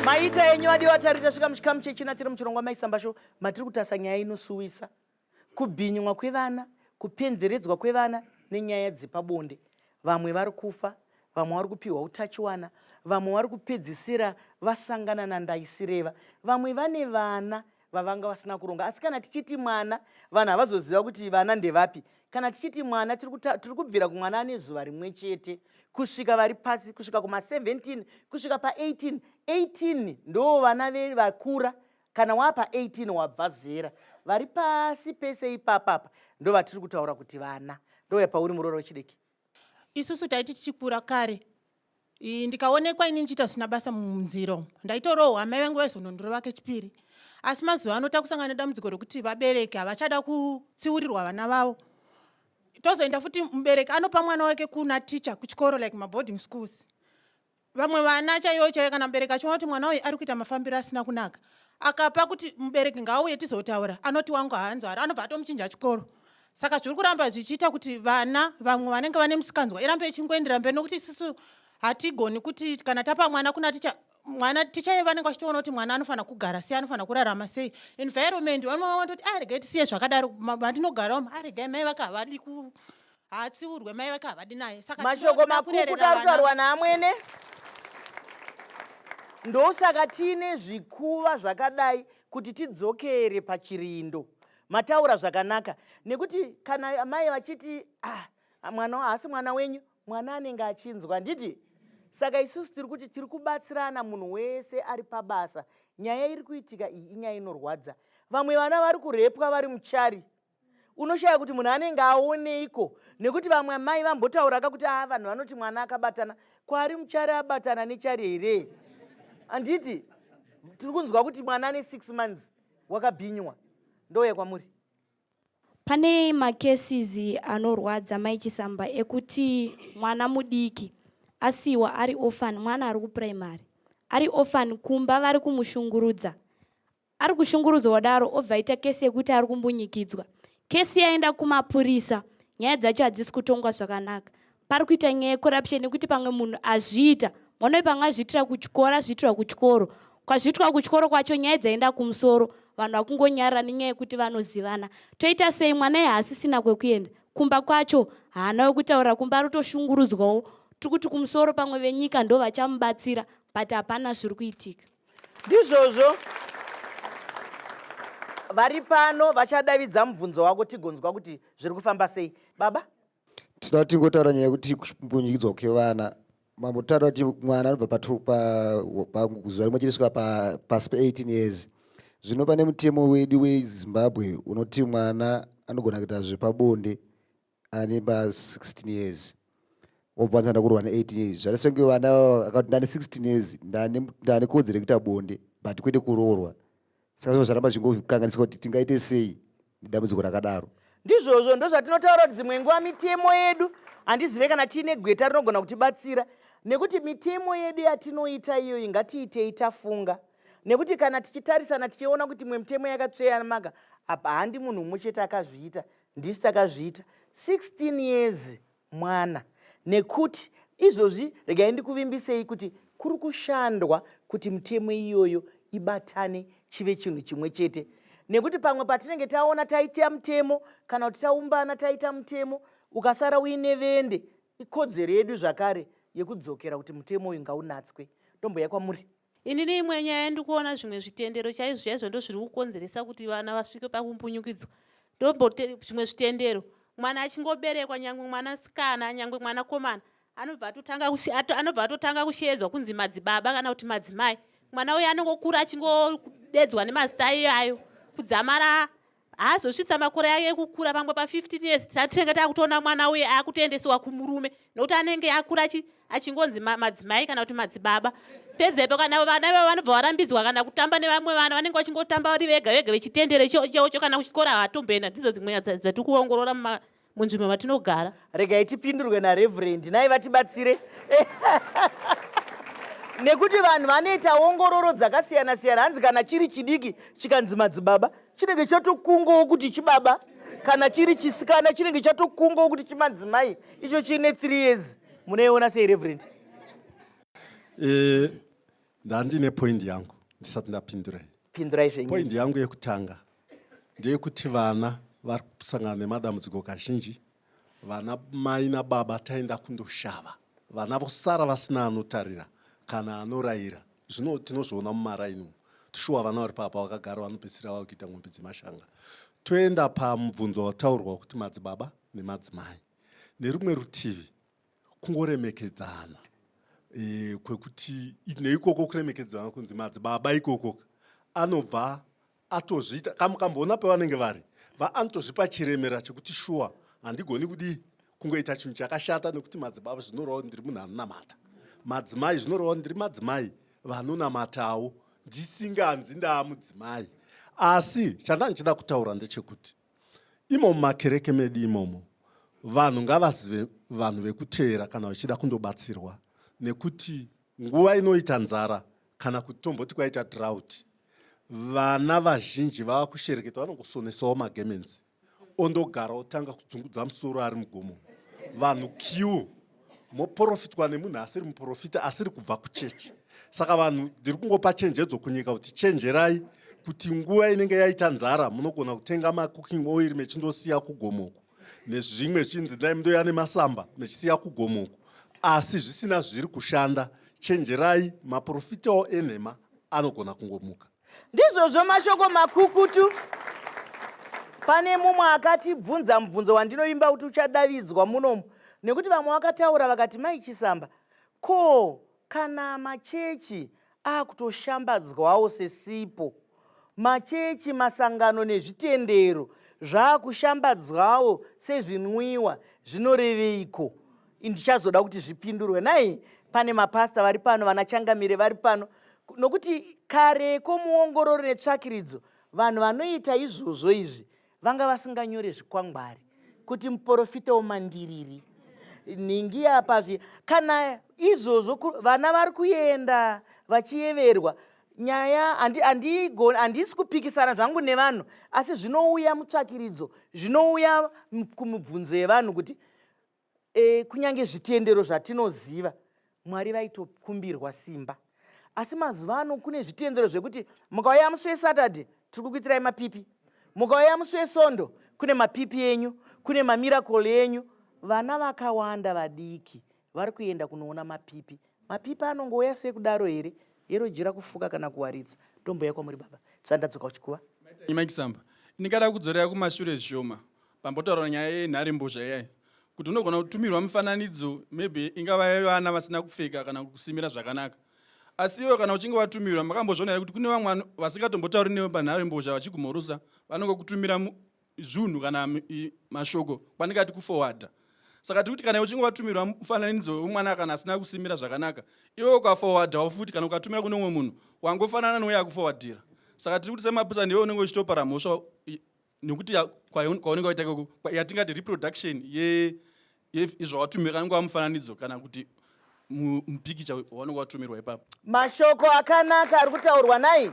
maita enyu adiwa tari tasvika muchikamu chechina tiri muchirongwa maisambasho matiri kutarisa nyaya inosuwisa kubhinywa kwevana kupenzeredzwa kwevana nenyaya dzepabonde vamwe vari kufa vamwe vari kupiwa utachiwana vamwe vari kupedzisira vasangana nandaisireva vamwe vane vana vavanga vasina kuronga asi kana tichiti mwana vanhu havazoziva kuti vana ndevapi kana tichiti mwana tiri kubvira kumwana ane zuva rimwe chete kusvika vari pasi kusvika kuma17 kusvika pa18 18 ndoo vana vakura kana wapa 18 wabva zera vari pasi pese ipapapa ndovatiri kutaura kuti vana ndoya pauri muroora wechidiki isusu taiti tichikura kare ndikaonekwa ini ndichiita zvisina basa munziro ndaitorohwa amai vangu vaizonondirova kechipiri asi mazuva ano takusangana nedambudziko rekuti vabereki havachada kutsiurirwa vana vavo tozoenda futi mubereki anopa mwana wake kuna ticha kuchikoro like maboarding schools vamwe vana chaiyo chaiyo kana mubereki achiona kuti mwana uyu ari kuita mafambiro asina kunaka akapa kuti mubereki ngaauye tizotaura anoti wangu haanzwari anobva atomuchinja chikoro saka zviri kuramba zvichiita kuti vana vamwe vanenge vane musikanzwa irambe ichingoendera mberi nokuti isusu hatigoni kuti kana tapa mwana kuna ticha mwana ticha ye vanenge vachitoona kuti mwana anofanira kugara sei anofanira kurarama sei environment vanoona kuti aregai ah, tisiye zvakadaro matinogara umu aregai ah, mai vaka havadi ku haatsiurwe mai vake havadi naye saka mashoko makukuta ari kutaurwa naamwene ndosaka tiine zvikuva zvakadai kuti tidzokere pachirindo mataura zvakanaka nekuti kana mai vachiti ah, mwana haasi mwana wenyu mwana anenge achinzwa nditi saka isusu tiri kuti tiri kubatsirana munhu wese ari pabasa nyaya iri kuitika iyi inyaya inorwadza vamwe vana vari kurepwa vari muchari unoshaya kuti munhu anenge aoneiko nekuti vamwe amai vambotaura ka kuti aa vanhu vanoti mwana akabatana kwari muchari abatana nechari here handiti tiri kunzwa kuti mwana ane six months wakabhinywa ndouya kwamuri pane macases anorwadza mai chisamba ekuti mwana mudiki asiwa ari orphan mwana ari kuprimary ari orphan kumba vari kumushungurudza Ari kushungurudzwa wadaro obva aita kesi yekuti ari kumbunyikidzwa. Kesi yaenda kumapurisa. Nyaya dzacho hadzisi kutongwa zvakanaka. Pari kuita nyaya yecorruption nekuti pamwe munhu azviita. Mwana uyu pamwe azviitira kuchikoro azviitirwa kuchikoro. Kwazviitwa kuchikoro kwacho nyaya dzaenda kumusoro. Vanhu vakungonyarira nenyaya yekuti vanozivana. Toita sei mwana iye haasisina kwekuenda. Kumba kwacho haana wekutaurira kumba ari kutoshungurudzwawo. Tiri kuti kumusoro pamwe venyika ndoo vachamubatsira but hapana zviri kuitika. ndizvozvo vari pano vachadavidza mubvunzo wako tigonzwa kuti zviri kufamba sei baba tinoda tingotaura nyaya yekuti kunyikidzwa kwevana mambo tinoda kuti mwana anobva pazuva rimwe chete svika pasi pa18 years zvino pane mutemo wedu wezimbabwe unoti mwana anogona kuita zvepabonde ane ba 16 years wobva wanzi ndakurwa ne 18 years zvati senge vana akati ndane 16 years ndane ndane kodzero kuita bonde but kwete kuroorwa saka zvino zvaramba zvingokanganisa kuti tingaite sei nedambudziko rakadaro ndizvozvo ndozvatinotaura kuti dzimwe nguva mitemo yedu handizive kana tiine gweta rinogona kutibatsira nekuti mitemo yedu yatinoita iyoyi ngatiitei tafunga nekuti kana tichitarisana tichiona kuti imwe mitemo yakatsveyamaka apa handi munhu umwe chete akazviita ndisu takazviita 16 years mwana nekuti izvozvi regai ndikuvimbisei kuti kuri kushandwa kuti mutemo iyoyo ibatane chive chinhu chimwe chete nekuti pamwe patinenge taona taita mutemo kana kuti taumbana taita mutemo ukasara uine vende ikodzero yedu zvakare yekudzokera kuti mutemo uyu ngaunatswe ndomboya kwamuri Inini imwe nyaya yandikuona zvimwe zvitendero chaizvo chaizvo ndozviri kukonzeresa kuti vana vasvike pakumbunyukidzwa ndombo zvimwe zvitendero mwana achingoberekwa nyangwe mwana sikana nyangwe mwana komana anobva atotanga anobva atotanga kusheedzwa kunzi madzibaba kana kuti madzimai mwana uyo anongokura achingodedzwa nemazita iyayo kudzamara haazosvitsa makore ayo ekukura pamwe pa 15 years tatinenge taakutoona mwana uye aakutoendesewa kumurume nokuti anenge akura achingonzi madzimai kana kuti madzibaba pedzepo kana vana ivo vanobva varambidzwa kana kutamba nevamwe vana vanenge vachingotamba vari vega vega vechitendere chocho kana kuchikora havatomboenda ndidzo dzimwe nyaya dzatiri kuongorora munzvimbo matinogara regai tipindurwe nareverendi nai vatibatsire nekuti vanhu vanoita ongororo dzakasiyana siyana hanzi kana chiri chidiki chikanzi madzibaba chinenge chatokungawo kuti chibaba kana chiri chisikana chinenge chatokungawo kuti chimadzimai icho chiine three years munoiona sei reverend e, ndandine point yangu ndisati ndapindurai pindurai zvenyu point yangu yekutanga ndeyekuti vana vari kusangana nemadambudziko kazhinji vana mai nababa taenda kundoshava vana vosara vasina anotarira kana anorayira zvino tinozviona mumaraini umu tishuwa vana vari papa vakagara vanopedzisira vava kuita mombe dzemashanga toenda pamubvunzo wataurwa kuti madzibaba nemadzimai nerumwe rutivi kungoremekedzana e, kwekuti neikoko kuremekedzana kunzi madzibaba ikoko anobva atozviita kamboona pavanenge vari vaanotozvipa chiremera chekuti shuwa handigoni kudii kungoita chinhu chakashata nekuti madzibaba zvinoreva kuti ndiri munhu anonamata madzimai zvinoreva kuti ndiri madzimai vanonamatawo ndisinganzi ndaamudzimai asi chandandichida kutaura ndechekuti imo mumakereke medu imomo vanhu ngavazive vanhu vekuteera kana vachida kundobatsirwa nekuti Nguva inoita nzara kana kuti tomboti kwaita drought, vana vazhinji vava kushereketa vanongosonesawo magemenzi ondogara otanga kudzungudza musoro ari mugomo vanhu q moporofitwa nemunhu asiri muporofita asiri kubva kuchechi saka vanhu ndiri kungopa chenjedzo kunyika kuti chenjerai kuti nguva inenge yaita nzara munogona kutenga macooking oil mechindosiya kugomoko nezvimwe zvichiinzi dai mundoya nemasamba mechisiya kugomuko asi zvisina zviri kushanda chenjerai maprofitawo enhema anogona kungomuka ndizvozvo mashoko makukutu pane mumwe akatibvunza mubvunzo wandinoimba kuti uchadavidzwa munomu nekuti vamwe vakataura vakati maichisamba ko Kana machechi akutoshambadzwawo sesipo, machechi, masangano nezvitendero zvakushambadzwawo sezvinwiwa zvinoreveiko? Ndichazoda kuti zvipindurwe nai pane mapasta vari pano, vana changamire vari pano, nokuti kareko muongorori netsvakiridzo vanhu vanoita izvozvo izvi vanga vasinganyore zvikwangwari kuti muporofita womandiriri nhingi apa zvi kana izvozvo vana vari kuenda vachiyeverwa nyaya handisi kupikisana zvangu nevanhu asi zvinouya mutsvakiridzo zvinouya kumibvunzo yevanhu kuti e, kunyange zvitendero zvatinoziva mwari vaitokumbirwa simba asi mazuva ano kune zvitendero zvekuti mukauya musi wesaturday tiri kukuitirai mapipi mukauya musi wesondo kune mapipi enyu kune mamirakol enyu vana vakawanda vadiki vari kuenda kunoona mapipi Mapipa anongouya sei kudaro here? Yero jira kufuka kana kuwaridza. Ndombouya kwamuri baba. Tsanda dzoka uchikuva. Nyima ikisamba. Ndingada kudzorera kumashure zvishoma. Pambotaura nyaya yenhare mbozha iyayi. Kuti unogona kutumirwa mifananidzo maybe ingava yevana vasina kupfeka kana kusimira zvakanaka. Asi iwe kana uchinge watumirwa makambozviona kuti kune vamwe vasingatombotauri newe panhare mbozha vachigumhorusa vanongokutumira zvunhu kana mashoko kwandingati kufowadha saka tiri kuti kana uchinge watumirwa mufananidzo wemwana kana asina kusimira zvakanaka iwe ukafowadhawo futi kana ukatumira kune umwe munhu wangofanana nouye akufowadhira saka tiri kuti semapisa ndiwe unenge uchitopara mhosva nekuti kwaunenge waita ikoko yatingati reproduction ye if izvo watumirwa anenge wamufananidzo kana kuti mupikicha waunenge watumirwa ipapo mashoko akanaka ari kutaurwa nai